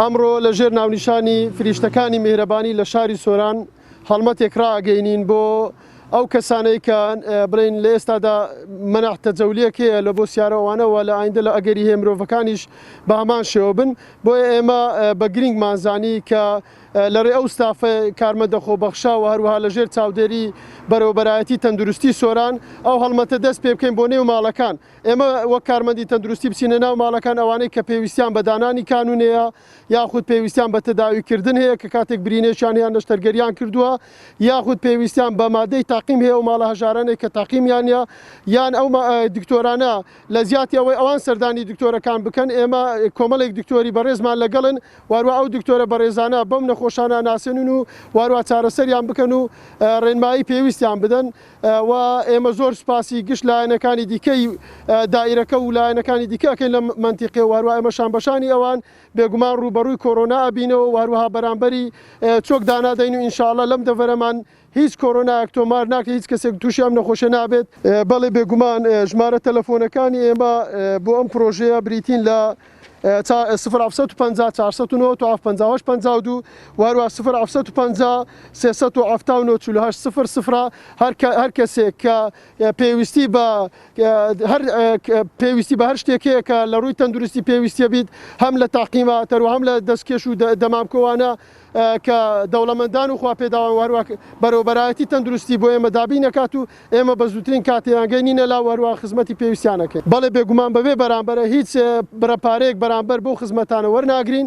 ئەمڕۆ لە ژێر ناونیشانی فریشتەکانی میهرەبانی لە شاری سۆران هەڵمەتێک ڕاگەینین بۆ ئەو کەسانەی کە بڵین لە ئێستادا منەح تەجەولیەک هەیە لە بۆ سیارەوانەوە لە ئایندە لە ئەگەری هەیە مرۆڤەکانیش بە هەمان شێوە بن بۆیە ئێمە بە گرنگمانزانی کە لە رێ ئەو ستافە کارمەندە خۆبەخشە و هەروەها لە ژێر چاودێری بەرەوبەرایەتی تەندروستی سۆران ئەو هەڵمەتە دەست پێ بکەین بۆ نێو ماڵەکان ئێمە وەک کارمەندی تەندروستی بچینە ناو ماڵەکان ئەوانەی کە پێویستیان بە دانانی کانونەیە یاخود پێویستیان بە تەداوی کردن هەیە کە کاتێک برینێکیان هەیە نەشتەرگەریان کردووە یاخود پێویستیان بە مادەی تاقیم هەیە و ماڵە هەژارانێک کە تاقیمیانە یان ئەو دکتۆرانە لە زیاتی ئەوەی ئەوان سەردانی دکتۆرەکان بکەن ئێمە کۆمەڵێک دکتۆری بەڕێزمان لەگەڵن واروا ئەو دکتۆرە بەڕێزانە بەم نەخۆشانە ناسێنن و واروا چارەسەریان بکەن و ڕێنمایی پێویستیان بدەن و ئێمە زۆر سوپاسی گشت لایەنەکانی دیکەی دایرەکە و لایەنەکانی دیکەکەین لە منتیقێ واروا ئێمە شانبەشانی ئەوان بێگومان ڕووبەڕووی کۆرۆنا ئەبینەوە واروها بەرامبەری چۆک دانادەین و ئینشاءاللە لەم دەڤەرەمان هیچ کۆرۆنایەک تۆمار ناکەی هیچ کەسێک تووشی ئەم نەخۆشە نابێت بەڵێ بێگومان ژمارە تەلەفۆنەکانی ئێمە بۆ ئەم پرۆژەیە بریتین لە سفر ئەفسەد و پەنجا چارسەد و نۆ تواف پەنجاوەش پەنجا و دوو واروا سفر ئەفسەد و پەنجا سێسەد و عەفتا و نۆ چلو هەشت سفر سفرە هەر کەسێک کە پێویستی بە هەر پێویستی بە هەر شتێکەیە کە لە ڕووی تەندروستی پێویستە بیت هەم لە تاقیماتەر و هەم لە دەستکێش و دەمامکەوانە کە دەوڵەمەندان و خواپێداوان و هەروەک بەرێوەبەرایەتی تەندروستی بۆ ئێمە دابین نەکات و ئێمە بە زووترین کات یان گەینینە لا و هەروەها خزمەتی پێویستیان نەکەین. بەڵێ بێگومان بەبێ بەرامبەرە هیچ بڕە پارەیەک بەرامبەر بەو خزمەتانە وەرناگرین.